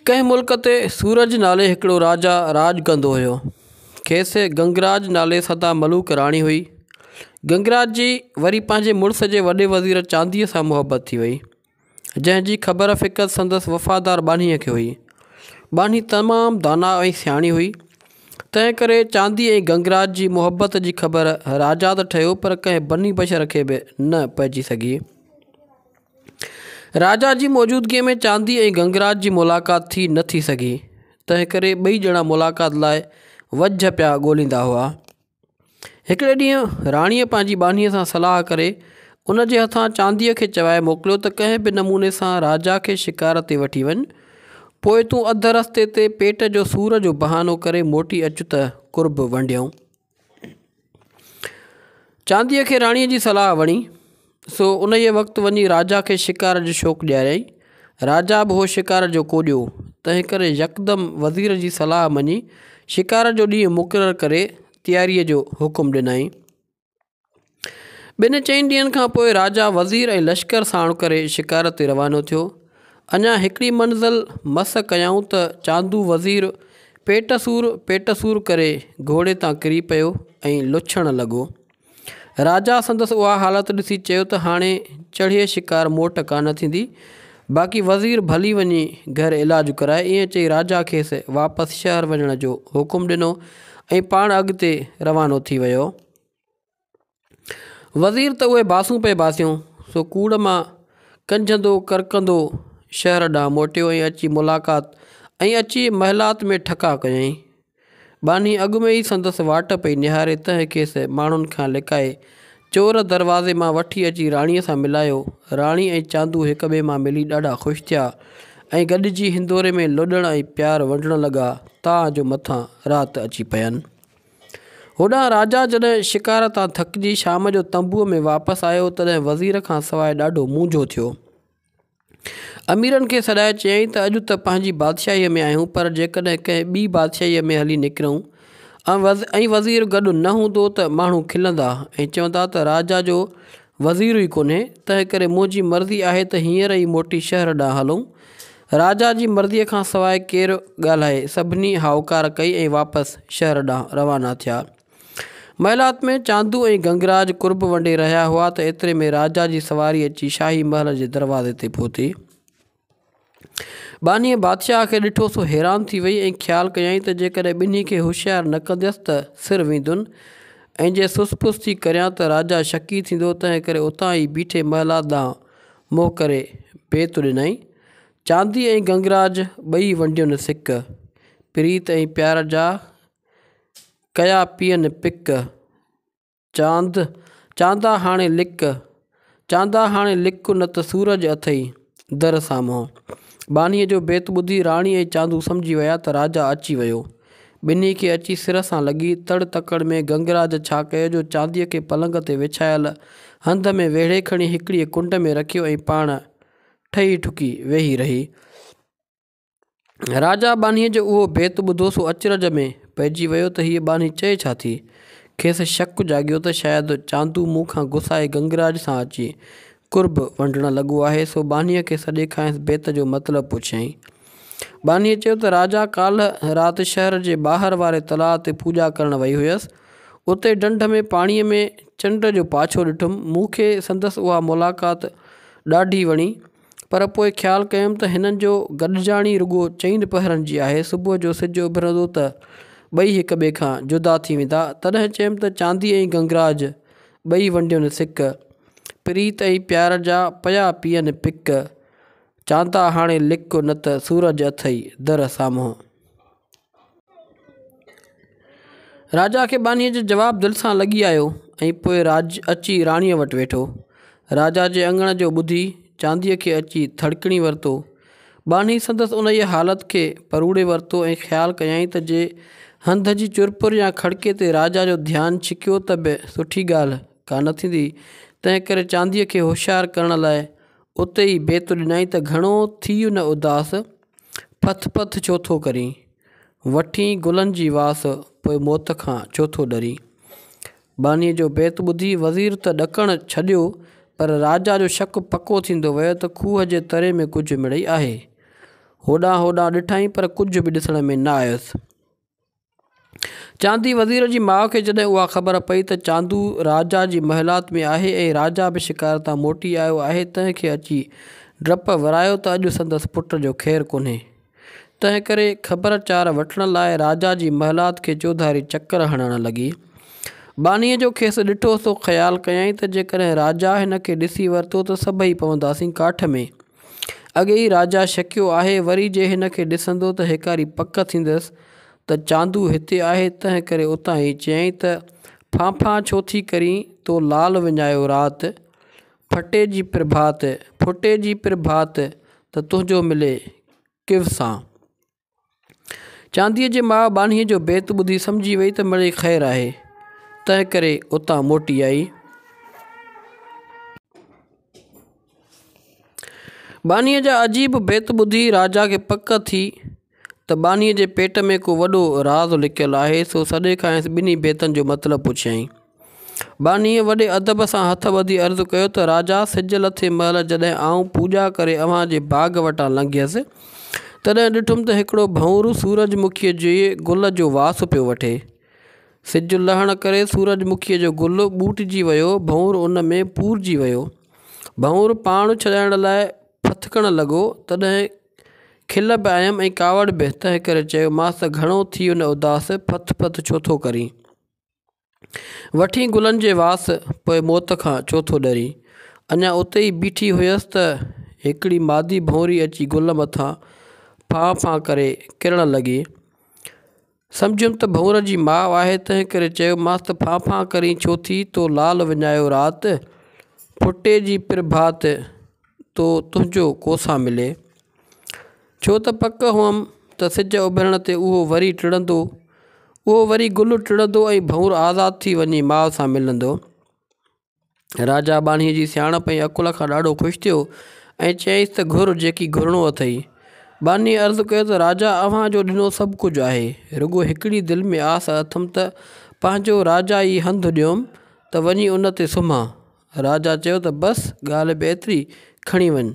ڪنهن ملڪ تي سورج نالي هڪڙو راجا راڄ ڪندو هيو کيس گنگراج نالي سدا ملوڪ راڻي هئي گنگراج جي وري پنهنجي مڙس جي وڏي وزير چانديء سان محبت ٿي وئي جنهن جي خبر فقط سندس وفادار ٻانهيء کي هئي ٻانهي تمام دانا ۽ سياڻي هئي تنهن ڪري چاندي ۽ گنگراج جي محبت جي خبر راجا ته ٺهيو پر ڪنهن بني بشر کي به نه پئجي سگهي راجا جي موجودگيء ۾ چاندي ۽ گنگراج جي ملاقات ٿي نه ٿي سگهي، تنهن ڪري ٻئي ڄڻا ملاقات لاء وجهه پيا ڳوليندا هئا. هڪڙي ڏينهن راڻيء پنهنجي ٻانهيء سان صلاح ڪري، ان جي هٿان چانديء کي چوائي موڪليو ته ڪنهن به نموني سان راجا کي شڪار تي وٺي وڃ، پوء تون اڌ رستي تي پيٽ جو سور جو بهانو ڪري موٽي اچ ته قرب ونڊيون. چانديء کي راڻيء جي صلاح وڻي سو انهيء وقت وڃي راجا کي شڪار جو شوق ڏياريائين. راجا به هو شڪار جو ڪوڏيو هو، تنهنڪري يڪدم وزير جي صلاح مڃي شڪار جو ڏينهن مقرر ڪري تياريء جو حڪم ڏنائين. ٻن چئن ڏينهن کان پوء راجا وزير ۽ لشڪر ساڻ ڪري شڪار تي روانو ٿيو. اڃا هڪڙي منزل مس ڪيائون ته چاندو وزير پيٽ سور پيٽ سور ڪري گهوڙي تان ڪري پيو ۽ لڇڻ لڳو. راجا سندس اها حالت ڏسي چيو ته هاڻي چڙهيي شڪار موٽ ڪانه ٿيندي. باقي وزير ڀلي وڃي گهر علاج ڪرائي ائين چئي راجا کيس واپس شهر وڃڻ جو حڪم ڏنو ۽ پاڻ اڳتي روانو ٿي ويو. وزير ته اهي باسون پئي باسيو، سو ڪوڙ مان ڪنجهندو ڪرڪندو شهر ڏانهن موٽيو ۽ اچي ملاقات ۽ اچي محلات ۾ ٺڪاء ڪيائين. ٻانهي اڳ ۾ ئي سندس واٽ پئي نهاري تنهن کيس ماڻهن کان لڪائي چور دروازي مان وٺي اچي راڻيء سان ملايو. راڻي ۽ چاندو هڪ ٻئي مان ملي ڏاڍا خوش ٿيا ۽ گڏجي هندوري ۾ لڏڻ ۽ پيار ونڊڻ لڳا تان جو مٿان رات اچي پين. هوڏانهن راجا جڏهن شڪار تان ٿڪجي شام جو تنبوء ۾ واپس آيو، تڏهن وزير کان سواء ڏاڍو مونجهو ٿيو. اميرن کي سڏائي چيائين ته اڄ ته پنهنجي بادشاهيء ۾ آهيون، پر جيڪڏهن ڪنهن ٻي بادشاهيء ۾ هلي نڪرون ۽ وزير گڏ نه هوندو ته ماڻهو کلندا ۽ چوندا ته راجا جو وزير ئي ڪونهي، تنهنڪري منهنجي مرضي آهي ته هينئر ئي موٽي شهر ڏانهن هلون. راجا جي مرضيء کان سواء ڪير ڳالهائي؟ سڀني هائوڪار ڪئي ۽ واپس شهر ڏانهن روانا ٿيا. محلات ۾ چاندو ۽ گنگراج قرب ونڊي رهيا هئا ته ايتري ۾ راجا جي سواري اچي شاهي محل جي دروازي تي پهتي. ٻانهيء بادشاهه کي ڏٺو سو حيران ٿي وئي ۽ خيال ڪيائين ته جيڪڏهن ٻنهي کي هوشيار نه ڪنديس ته سر ويندن ۽ جي سس پس ٿي ڪريان ته راجا شڪي ٿيندو تنهنڪري اتان ئي بيٺي محلات ڏانهن مون ڪري بيت ڏنائين. چاندي ۽ گنگراج ٻئي ونڊين سڪ. پريت ۽ پيار جا ڪيا پيئن پڪ. چاند چاندا هاڻي لڪ، چاندا هاڻي لڪ نه ته سورج اٿئي در سامهون. ٻانهيء جو بيت ٻڌي راڻي ۽ چاندو سمجهي ويا ته راجا اچي ويو. ٻنهي کي اچي سر سان لڳي تڙ تڪڙ ۾ گنگراج ڇا ڪيو جو چانديء کي پلنگ تي وڇايل هنڌ ۾ ويڙهي کڻي هڪڙيء ڪنڊ ۾ رکيو ۽ پاڻ ٺهي ٺڪي ويهي رهي. راجا ٻانهيء جو اهو بيت ٻڌو سو اچرج ۾ پئجي ويو ته هيء ٻانهي چئي ڇا ٿي؟ کيس شڪ جاڳيو ته شايد چاندو مون کان گسائي گنگراج سان اچي قرب ونڊڻ لڳو آهي سو ٻانهيء کي سڏي کانئس بيت جو مطلب پڇيائين. ٻانهيء چيو ته راجا ڪالهه رات شهر جي ٻاهر واري تلاء تي پوڄا ڪرڻ وئي هيس. اتي ڍنڍ ۾ پاڻيء ۾ چنڊ جو پاڇو ڏٺم. مون کي سندس اها ملاقات ڏاڍي وڻي، پر پوء خيال ڪيم ته هنن جو گڏجاڻي رڳو چئن پهرن جي آهي. صبح جو سج اڀرندو ته ٻئي هڪ ٻئي کان جدا ٿي ويندا. تڏهن چيم ته چاندي ۽ گنگراج ٻئي ونڊين سڪ. پريت ۽ پيار جا پيا پيئن پڪ. چانتا هاڻي لڪ نه ته سورج اٿئي در سامهون. راجا کي ٻانهيء جو جواب دل سان لڳي آيو ۽ پوء راڄ اچي راڻيء وٽ ويٺو. راجا جي اڱڻ جو ٻڌي چانديء کي اچي ٿڙڪڻي ورتو. ٻانهي سندس انهيء حالت کي پروڙي ورتو ۽ خيال ڪيائين ته جي هنڌ جي چرپر يا کڙڪي تي راجا جو ڌيان ڇڪيو ته به سٺي ڳالهه ڪا نه ٿيندي، تنهنڪري چانديء کي هوشيار ڪرڻ لاء اتي ئي بيت ڏنائين ته گهڻو ٿيء نه اداس، پٿ پٿ ڇو ٿو ڪرين، وٺين گلن جي واس، پوء موت کان ڇو ٿو ڏرين. ٻانهيء جو بيت ٻڌي وزير ته ڏڪڻ ڇڏيو، پر راجا جو شڪ پڪو ٿيندو ويو ته کوهه جي تري ۾ ڪجهه مڙئي آهي. هوڏانهن هوڏانهن ڏٺائين پر ڪجهه به ڏسڻ ۾ نه آيس. چاندي وزير جي ماء کي جڏهن اها خبر پئي ته چاندو راجا جي محلات ۾ آهي ۽ راجا به شڪار تان موٽي آيو آهي تنهن کي اچي ڊپ ورايو ته اڄ سندس پٽ جو خير ڪونهي تنهن ڪري خبر چار وٺڻ لاء راجا جي محلات کي چوڌاري چڪر هڻڻ لڳي ٻانهيء جو کيس ڏٺو سو خيال ڪيائين ته جيڪڏهن راجا هن کي ڏسي ورتو ته سڀئي پونداسين ڪاٺ ۾. اڳي ئي راجا شڪيو آهي، وري جي هن کي ڏسندو ته هيڪاري پڪ ٿيندس ته چاندو هتي آهي، تنهن ڪري اتان ئي چيائين ته، ڦانڦان ڇو ٿي ڪرين، تو لال وڃايو رات، ڦٽي جي پرڀات، ڦٽي جي پرڀات، ته تنهنجو ملي ڪيو سان. چانديء جي ماء ٻانهيء جو بيت ٻڌي سمجهي ويئي ته مڙئي خير آهي، تنهن ڪري اتان موٽي آئي. ٻانهيء جا عجيب بيت ٻڌي راجا کي پڪ ٿي ته ٻانهيء جي پيٽ ۾ ڪو وڏو راز لڪيل آهي، سو سڏي کانئس ٻنهي بيتن جو مطلب پڇيائين. ٻانهيء وڏي ادب سان هٿ ٻڌي عرض ڪيو ته راجا سج لٿي مهل جڏهن آئون پوڄا ڪري اوهان جي باغ وٽان لنگهيس، تڏهن ڏٺم ته هڪڙو ڀنور سورج مکيء جي گل جو واس پيو وٺي. سج لهڻ ڪري سورج مکيء جو گل ٻوٽجي ويو، ڀنور ان ۾ پورجي ويو. ڀنور پاڻ ڇڏائڻ لاء ڦٿڪڻ لڳو، تڏهن کل به آيم ۽ ڪاوڙ به، تنهنڪري چيومانس ته گهڻو ٿيو نه اداس، ڦٿ ڦٿ ڇو ٿو ڪرين؟ وٺين گلن جي واس، پوء موت کان ڇو ٿو ڏرين. اڃا اتي ئي بيٺي هيس ته هڪڙي مادي ڀونري اچي گل مٿان ڦان ڦان ڪري ڪرڻ لڳي. سمجهيم ته ڀونر جي ماء آهي تنهنڪري چيومانس ته ڦان ڦان ڪرين ڇو ٿي، تو لال وڃايو رات، ڦٽي جي پرڀات. تو تنهنجو ڪوسا ملي ڇو ته پڪ هئم ته سج اڀرڻ تي اهو وري ٽڙندو اهو وري گل ٽڙندو ۽ ڀئور آزاد ٿي وڃي ماء سان ملندو راجا ٻانهي جي سياڻپ ۽ عقل کان ڏاڍو خوش ٿيو ۽ چيائيس ته گهر جيڪي گهرڻو اٿئي ٻانهي عرض ڪيو ته راجا اوهان جو ڏنو سڀ ڪجهه آهي رڳو هڪڙي دل ۾ آس اٿم ته پنهنجو راجا ئي هنڌ ڏيوم ته وڃي ان تي سمهان راجا چيو ته بس ڳالهه به ايتري، کڻي وڃ.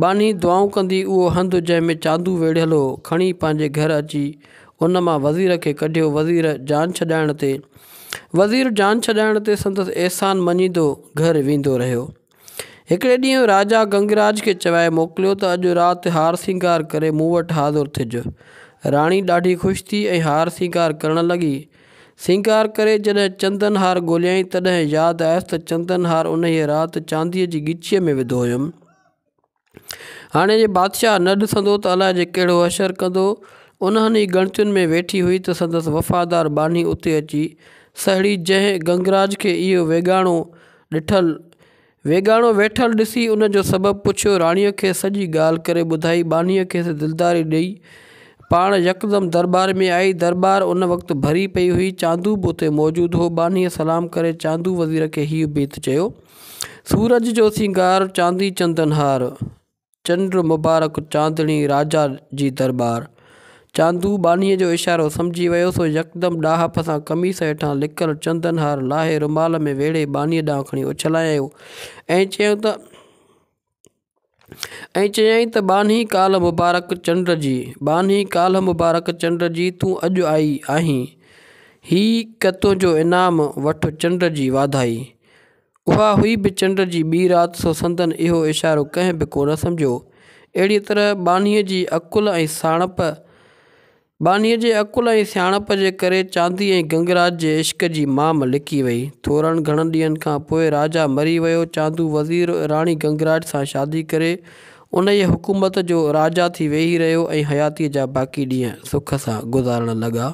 ٻانهي دعائون ڪندي اهو هنڌ جنهن ۾ چاندو ويڙهيل هو کڻي پنهنجي گهر اچي ان مان وزير کي ڪڍيو وزير جان ڇڏائڻ تي وزير جان ڇڏائڻ تي سندس احسان مڃيندو گهر ويندو رهيو. هڪڙي ڏينهن راجا گنگراج کي چوائي موڪليو ته اڄ رات هار سينگار ڪري مون وٽ حاضر ٿج. راڻي ڏاڍي خوش ٿي ۽ هار سينگار ڪرڻ لڳي. سينگار ڪري جڏهن چندن هار ڳوليائين، تڏهن ياد آيس ته چندن هار انهيء رات چانديء جي ڳچيء ۾ وڌو هيم. هاڻي جي بادشاهه نه ڏسندو ته الاء جي ڪهڙو حشر ڪندو. انهن ئي ڳڻتين ۾ ويٺي هئي ته سندس وفادار ٻانهي اتي اچي سهڙي، جنهن گنگراج کي اهو ويڳاڻو ڏٺل، ويڳاڻو ويٺل ڏسي ان جو سبب پڇيو راڻيء کي سڄي ڳالهه ڪري ٻڌائي ٻانهيء کيس دلداري ڏئي پاڻ يڪدم درٻار ۾ آئي درٻار ان وقت ڀري پئي هئي چاندو به اتي موجود هو ٻانهيء سلام ڪري چاندو وزير کي هيء بيت چيو سورج جو سينگار چاندي چندن هار چنڊ مبارڪ چاندڻي راجا جي درٻار. چاندو ٻانهيء جو اشارو سمجهي ويو، سو يڪدم ڏاهپ سان قميص هيٺان لڪل چندن هار لاهي رومال ۾ ويڙهي ٻانهيء ڏانهن کڻي اڇلايائون ۽ چيائون ته، ۽ چيائين ته ٻانهي ڪالهه مبارڪ چنڊ جي، ٻانهي ڪالهه مبارڪ چنڊ جي، تون اڄ آئي آهين، هيء ڪه تنهنجو انعام، وٺ چنڊ جي واڌائي. اها هئي به چنڊ جي ٻي رات سو سندن اهو اشارو ڪنهن به ڪونه سمجهيو. اهڙيء طرح ٻانهيء جي عقل ۽ سياڻپ ٻانهيء جي عقل ۽ سياڻپ جي ڪري چاندي ۽ گنگراج جي عشق جي مام لڪي وئي. ٿورن گهڻن ڏينهن کان پوء راجا مري ويو. چاندو وزير راڻي گنگراج سان شادي ڪري انهيء حڪومت جو راجا ٿي ويهي رهيو ۽ حياتيء جا باقي ڏينهن سک سان گذارڻ لڳا.